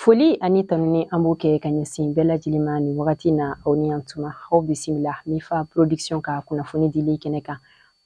Foli ani tanuni an b'o kɛ ka ɲɛsin bɛɛ lajɛlen ma nin wagati na aw ni yan tuma aw bisimila Mifa Production ka kunnafoni dili kɛnɛ kan.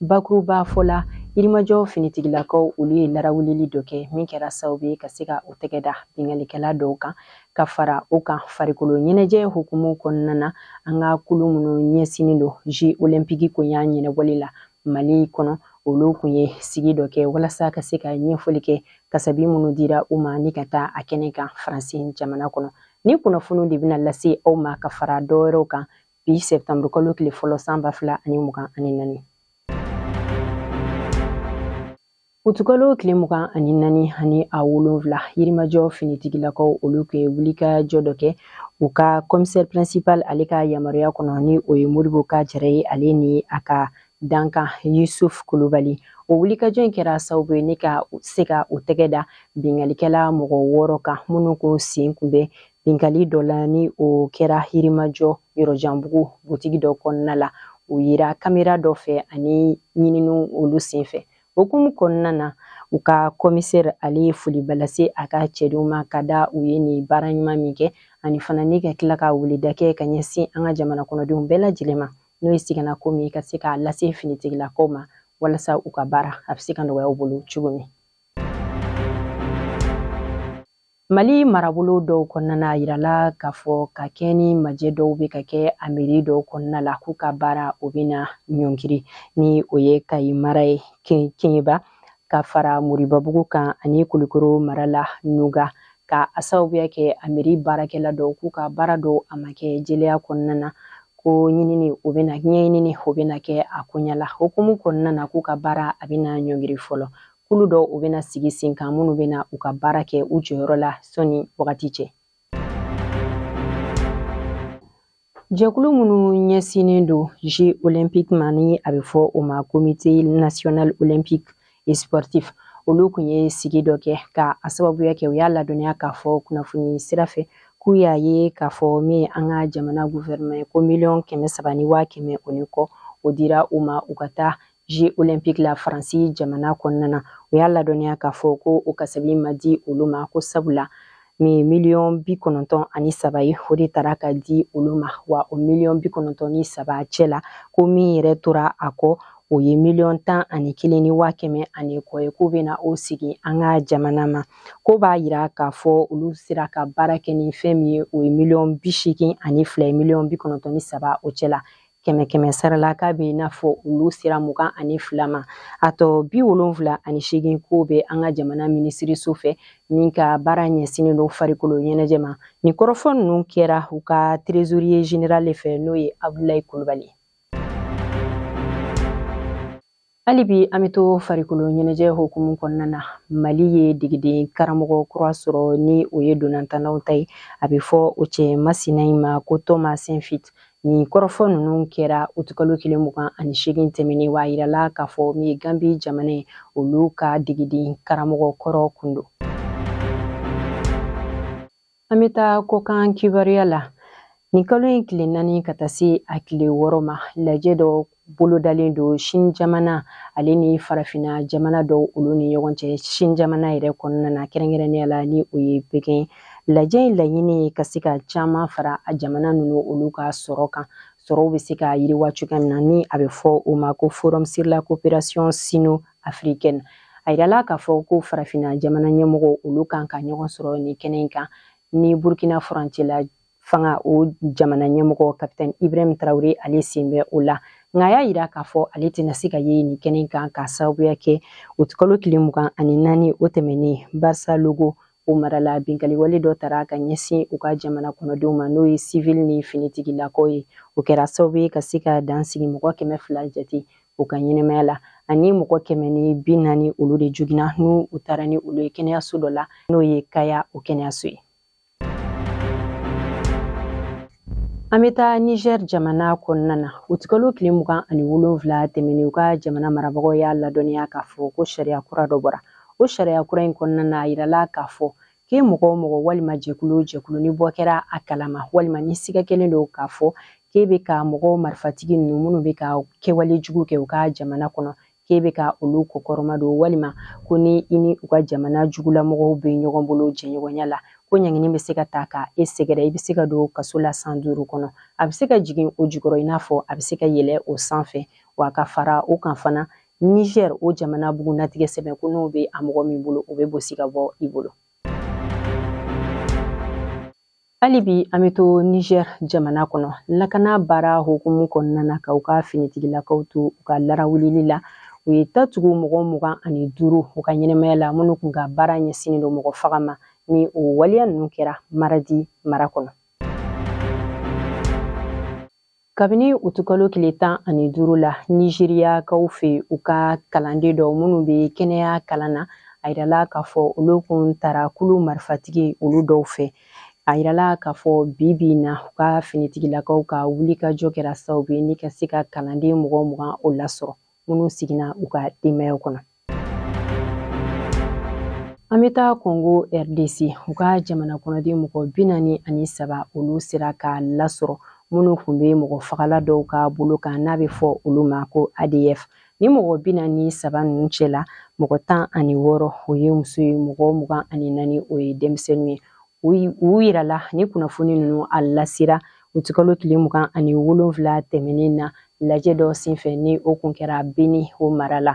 Bakurubafɔ la yirimajɔ finitigilakaw olu ye larawulili dɔ kɛ min kɛra sababu ye ka se ka u tɛgɛ da binkalikɛla dɔw kan ka fara u kan farikolo ɲɛnajɛ hukumu kɔnɔna na an ka kulu minnu ɲɛsinnen don Jeux olympiques koɲa ɲɛnabɔli la mali kɔnɔ olu kun ye sigi dɔ kɛ walasa ka se ka ɲɛfɔli kɛ kasabi minnu dira u ma ni ka taa a kɛnɛ kan faransi jamana kɔnɔ nin kunnafoniw de bɛna lase aw ma ka fara dɔwɛrɛw kan bi septembre kalo tile fɔlɔ san ba fila ani mugan ani naani Utukalo tile mugan ani naani ani a wolonwula yirimajɔ finitigilakaw olu kun ye wulikajɔ dɔ kɛ u ka commissaire principal ale ka yamaruya kɔnɔ ni o ye Modibo K Jara ye ale ni a ka dankan yusuf kulubali o wulikajɔ in kɛra sababu ye ne ka se ka u tɛgɛ da binkalikɛla mɔgɔ wɔɔrɔ kan minnu ko sen kun bɛ binkali dɔ la ni o kɛra yirimajɔ yɔrɔjanbugu butigi dɔ kɔnɔna la u yera kamera dɔ fɛ ani ɲininiw olu sen fɛ o hukumu kɔnɔna na u ka commissaire ale ye foliba lase a ka cɛdenw ma ka da u ye nin baara ɲuman min kɛ ani fana ni ka tila ka weleda kɛ ka ɲɛsin an ka jamana kɔnɔdenw bɛɛ lajɛlen ma n'o ye sigana ko min ka se k'a lase finitigilakaw ma walasa u ka baara a bɛ se ka nɔgɔya u bolo cogo min Mali marabolo dɔw kɔnɔna na a yirala k'a fɔ ka kɛ ni majɛ dɔw bɛ ka kɛ a mairie dɔw kɔnɔna la k'u ka baara o bɛ na ɲɔngiri ni o ye kayi mara ye keɲeba ka fara moribabugu kan ani kulukoro mara la nuga ka a sababuya kɛ a mairie baarakɛla dɔw k'u ka baara dɔw a ma kɛ jɛlenya kɔnɔna na ko ɲinini o bɛ na ɲɛɲinini o bɛ na kɛ a koɲa la hukumu kɔnɔna na k'u ka baara a bɛ na ɲɔngiri fɔlɔ kulu dɔ u bɛna sigi sen kan minnu bɛna u ka baara kɛ u jɔyɔrɔ la sɔni wagati cɛ jɛkulu minnu ɲɛsinnen don Jeux olympiques ma ni a bɛ fɔ o ma comité national olympique et sportif olu kun ye sigi dɔ kɛ ka a sababuya kɛ u y'a ladɔnniya k'a fɔ kunnafoni sira fɛ k'u y'a ye k'a fɔ min an ka jamana guvɛrɛnman ko miliyɔn kɛmɛ saba ni waa kɛmɛ o ni kɔ o dira u ma u ka taa jeux olympiques la faransi jamana kɔnɔna na u y'a ladɔnniya k'a fɔ ko o kasabi ma di olu ma ko sabula min miliyɔn bi kɔnɔntɔn ani saba ye o de tara ka di olu ma wa o miliyɔn bi kɔnɔntɔn ni saba cɛ la ko min yɛrɛ tora a kɔ o ye miliyɔn tan ani kelen ni waa kɛmɛ ani kɔ ye k'u bɛna o segin an ka jamana ma ko b'a yira k'a fɔ olu sera ka baara kɛ ni fɛn min ye o ye miliyɔn bi seegin ani fila ye miliyɔn bi kɔnɔntɔn ni saba o cɛ la kɛmɛ kɛmɛ sara la k'a bɛ i n'a fɔ olu sera mugan ani fila ma a tɔ bi wolonfila ani seegin k'o bɛ an ka jamana minisiriso fɛ min ka baara ɲɛsinnen don farikolo ɲɛnajɛ ma nin kɔrɔfɔ ninnu kɛra u ka trésorier général fɛ n'o ye abdulayi kulubali Hali bi an bɛ to farikolo ɲɛnajɛ hukumu kɔnɔna na mali ye degeden karamɔgɔ kura sɔrɔ ni o ye ntolatannaw ta ye a bɛ fɔ o cɛ masina in ma ko tɔma sɛnfit nin kɔrɔfɔ ninnu kɛra utukalo tile mugan ani seegin tɛmɛnen wa a yirala k'a fɔ min ye ganbi jamana ye olu ka degeden karamɔgɔ kɔrɔ kun don an bɛ taa kɔkan kibaruya la nin kalo in tile naani ka taa se a tile wɔɔrɔ ma lajɛ dɔ bolodalen don sini jamana ale ni farafina jamana dɔw olu ni ɲɔgɔn cɛ sini jamana yɛrɛ kɔnɔna na kɛrɛnkɛrɛnnenya la ni o ye pekɛn lajɛ in laɲini ye ka se ka caman fara a jamana ninnu olu ka sɔrɔ kan sɔrɔw bɛ se ka yiriwa cogoya min na ni a bɛ fɔ o ma ko forum sur la coopération sino africaine a yirala k'a fɔ ko farafinna jamana ɲɛmɔgɔw olu kan ka ɲɔgɔn sɔrɔ nin kɛnɛ in kan ni burkina furancɛla fanga o jamana ɲɛmɔgɔ kapitɛn ibrahim tarawele ale sen bɛ o la nka a y'a yira k'a fɔ ale tɛna se ka ye nin kɛnɛ in kan k'a sababuya kɛ utikalo tile mugan ani naani o tɛmɛnen barisalogo o mara la binkaliwale dɔ tara ka ɲɛsin u ka jamana kɔnɔdenw ma n'o ye sivili ni finitigilakaw ye o kɛra sababu ye ka se ka dan sigi mɔgɔ kɛmɛ fila jate u ka ɲɛnamaya la ani mɔgɔ kɛmɛ ni bi naani olu de jogina n'u taara ni olu ye kɛnɛyaso dɔ la n'o ye kaya o kɛnɛyaso ye an bɛ taa niger jamana kɔnɔna na utikalo tile mugan ani wolonwula tɛmɛnen u ka jamana marabagaw y'a ladɔnniya k'a fɔ ko sariya kura dɔ bɔra o sariya kura in kɔnɔna na a yirala k'a fɔ k'e mɔgɔ o mɔgɔ walima jɛkulu o jɛkulu ni bɔ kɛra a kalama walima ni siga kɛlen don k'a fɔ k'e bɛ ka mɔgɔw marifatigi ninnu minnu bɛ ka kɛwale jugu kɛ u ka jamana kɔnɔ k'e bɛ ka olu kɔkɔrɔma don walima ko ni i ni u ka jamana jugulamɔgɔw bɛ ɲɔgɔn bolo jɛɲɔgɔnya la ko ɲangini bɛ se ka ta ka e sɛgɛrɛ i bɛ se ka don kaso la san duuru kɔnɔ a bɛ se ka jigin o jukɔrɔ i n'a fɔ a bɛ se ka yɛlɛ o sanfɛ wa ka fara o kan fana Niger o jamana bugunnatigɛ sɛbɛn ko n'o bɛ a mɔgɔ min bolo o bɛ bosi ka bɔ i bolo hali bi an bɛ to niger jamana kɔnɔ lakana baara hukumu kɔnɔna na ka u ka finitigilakaw to u ka larawulili la u ye tatugu mɔgɔ mugan ani duuru u ka ɲɛnamaya la minnu kun ka baara ɲɛsinnen don mɔgɔ faga ma ni o waleya ninnu kɛra maradi mara kɔnɔ kabini uti kalo tile tan ani duuru la nizeriyakaw fɛ u ka kalanden dɔw minnu bɛ kɛnɛya kalan na a yirala k'a fɔ olu kun tara kulu marifatigi olu dɔw fɛ a yirala k'a fɔ bi bi in na u ka finitigilakaw ka wulikajɔ kɛra sababu ye ni ka se ka kalanden mɔgɔ mugan o lasɔrɔ minnu seginna u ka denbayaw kɔnɔ An bɛ taa Kongo RDC u ka jamana kɔnɔden mɔgɔ bi naani ani saba olu sera ka lasɔrɔ minnu kun bɛ mɔgɔ fagala dɔw ka bolo kan n'a bɛ fɔ olu ma ko ADF ni mɔgɔ bi naani ni saba ninnu cɛla mɔgɔ tan ani wɔɔrɔ o ye muso ye mɔgɔ mugan ani naani o ye denmisɛnninw ye u yirala ni kunnafoni ninnu a lasera uti kalo tile mugan ani wolonfila tɛmɛnen na lajɛ dɔ senfɛ ni o kun kɛra beni o mara la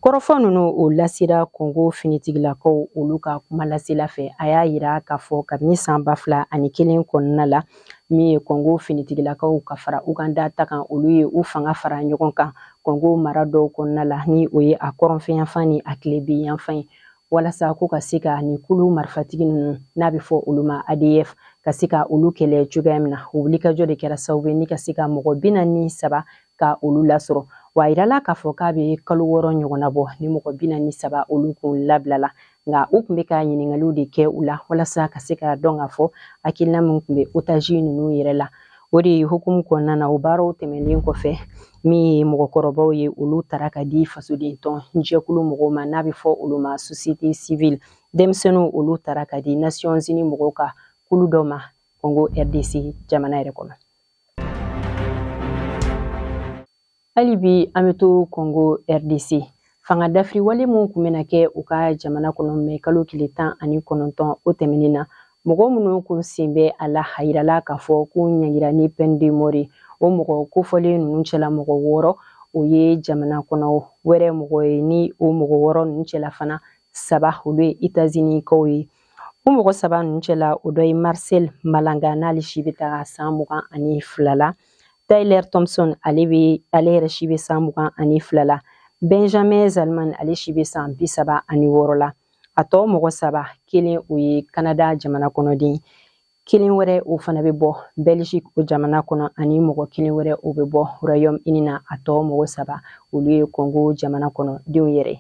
kɔrɔfɔ ninnu o lasera kongo finitigilakaw olu ka kuma lasela fɛ a y'a yira k'a fɔ kabini san ba fila ani kelen kɔnɔna la min ye kongo finitigilakaw ka fara uganda ta kan olu ye u fanga fara ɲɔgɔn kan kongo mara dɔw kɔnɔna la ni o ye a kɔrɔnfɛyanfan ni a tilebinyanfan ye walasa ko ka se ka nin kulu marifatigi ninnu n'a bɛ fɔ olu ma adf ka se ka olu kɛlɛ cogoya min na o wulikajɔ de kɛra sababu ye ni ka se ka mɔgɔ bi naani ni saba ka olu lasɔrɔ wa a yirala k'a fɔ k'a bɛ kalo wɔɔrɔ ɲɔgɔnna bɔ ni mɔgɔ bi naani ni saba olu kun labilala nka u kun bɛ ka ɲininkaliw de kɛ u la walasa ka se ka dɔn k'a fɔ hakilina min kun bɛ otage ninnu yɛrɛ la o de hukumu kɔnɔna na o baaraw tɛmɛnen kɔfɛ min ye mɔgɔkɔrɔbaw ye olu tara ka di fasoden tɔn jɛkulu mɔgɔw ma n'a bɛ fɔ olu ma société civile denmisɛnninw olu tara ka di nations unies mɔgɔw ka kulu dɔ ma congo rdc jamana yɛrɛ kɔnɔ hali bi an bɛ to kongo rdc fanga dafiri wale min kun bɛna kɛ u ka jamana kɔnɔ mɛ kalo tile tan ani kɔnɔntɔn o tɛmɛnen na mɔgɔ minnu kun sen bɛ a la a yirala k'a fɔ k'u ɲangira ni peine de mort o mɔgɔ kofɔlen ninnu cɛla mɔgɔ wɔɔrɔ o ye jamana kɔnɔ wɛrɛ mɔgɔ ye ni o mɔgɔ wɔɔrɔ ninnu cɛla fana saba olu ye etazini kaw ye o mɔgɔ saba ninnu cɛla o dɔ ye marcel malanga n'ale si bɛ taga san mugan ani fila la Tyler Thompson ale bɛ ale yɛrɛ si bɛ san mugan ani fila la Benjamin Zalman ale si bɛ san bi saba ani wɔɔrɔ la a tɔ mɔgɔ saba kelen o ye Canada jamana kɔnɔden kelen wɛrɛ o fana bɛ bɔ Belgique o jamana kɔnɔ ani mɔgɔ kelen wɛrɛ o bɛ bɔ Royaume Uni na a tɔ mɔgɔ saba olu ye Congo jamana kɔnɔ denw yɛrɛ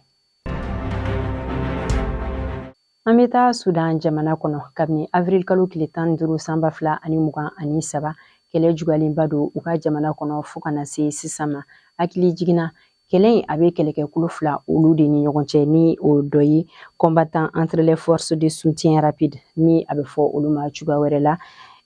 An bɛ taa Sudan jamana kɔnɔ kabini avril kalo tile tan ni duuru san ba fila ani mugan ani saba kɛlɛ jugalenba don u ka jamana kɔnɔ fo ka na se sisan ma hakili jigin na kɛlɛ in a bɛ kɛlɛkɛkulu fila olu de ni ɲɔgɔn cɛ ni o dɔ ye combattant entre les forces de soutien rapide ni a bɛ fɔ olu ma cogoya wɛrɛ la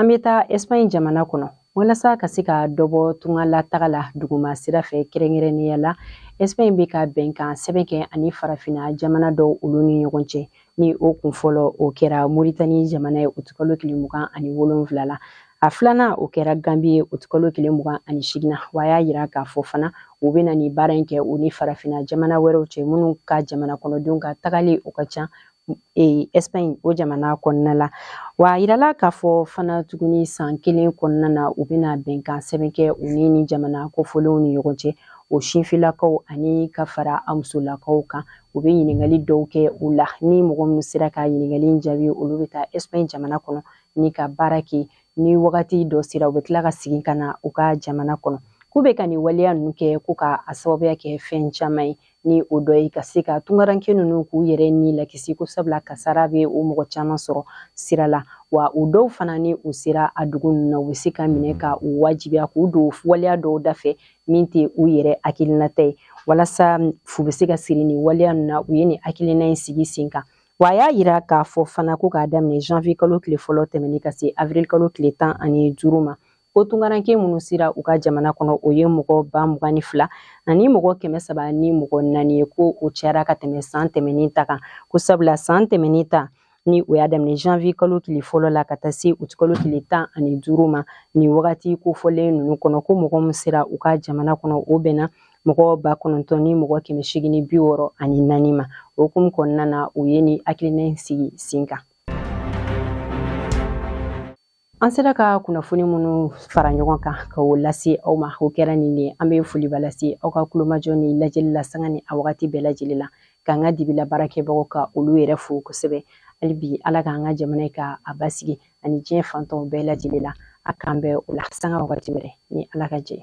An bɛ taa Espagne jamana kɔnɔ walasa ka se ka dɔ bɔ tungalataga la duguma sira fɛ kɛrɛnkɛrɛnnenya la Espagne bɛ ka bɛnkan sɛbɛn kɛ ani farafinna jamana dɔw olu ni ɲɔgɔn cɛ ni o kun fɔlɔ o kɛra Mauritanie jamana ye août kalo tile mugan ani wolonwula la a filanan o kɛra Gambie ye août kalo tile mugan ani seegin wa a y'a yira k'a fɔ fana u bɛna nin baara in kɛ u ni farafinna jamana wɛrɛw cɛ minnu ka jamana kɔnɔdenw ka tagali o ka ca e, Espagne o jamana kɔnɔna la wa a yirala k'a fɔ fana tuguni san kelen kɔnɔna na u bɛna bɛnkan sɛbɛn kɛ u ni nin jamana kofɔlenw ni ɲɔgɔn cɛ o sinfilakaw ani ka fara a musolakaw kan u bɛ ɲininkali dɔw kɛ u la ni mɔgɔ minnu sera ka ɲininkali in jaabi olu bɛ taa Espagne jamana kɔnɔ ni ka baara kɛ ni wagati dɔ sera u bɛ tila ka segin ka na u ka jamana kɔnɔ k'u bɛ ka nin waleya ninnu kɛ ko ka a sababuya kɛ fɛn caman ye ni o dɔ ye ka se ka tungaranke ninnu k'u yɛrɛ ni lakisi ko sabula kasara bɛ o mɔgɔ caman sɔrɔ sira la wa u dɔw fana ni u sera a dugu ninnu na u bɛ se ka minɛ ka u wajibiya k'u don waleya dɔw dafɛ min tɛ u yɛrɛ hakilinata ye walasa fu bɛ se ka siri nin waleya ninnu na u ye nin hakilina in sigi sen kan wa a y'a yira k'a fɔ fana ko k'a daminɛ janvier kalo tile fɔlɔ tɛmɛnen ka se avril kalo tile tan ani duuru ma ko tunkaranke minnu sera u ka jamana kɔnɔ o ye mɔgɔ ba mugan ni fila ani mɔgɔ kɛmɛ saba ni mɔgɔ naani ye ko o cayara ka tɛmɛ san tɛmɛnin ta kan ko sabula san tɛmɛnin ta ni o y'a daminɛ janvier kalo tile fɔlɔ la ka taa se uti kalo tile tan ani duuru ma nin wagati kofɔlen ninnu kɔnɔ ko mɔgɔ min sera u ka jamana kɔnɔ o bɛnna mɔgɔ ba kɔnɔntɔn ni mɔgɔ kɛmɛ segin ni bi wɔɔrɔ ani naani ma o hukumu kɔnɔna na u ye nin hakilina sigi sen kan An sera ka kunnafoni minnu fara ɲɔgɔn kan ka o lase aw ma o kɛra nin de an bɛ foliba lase aw ka kulomajɔ ni lajɛli la sanga ni a wagati bɛɛ lajɛlen la k'an ka dibila baarakɛbagaw ka olu yɛrɛ fo kosɛbɛ hali bi ala k'an ka jamana ka a basigi ani diɲɛ fan tɔw bɛɛ lajɛlen la a k'an bɛn o la sanga wagati wɛrɛ ni ala ka jɛn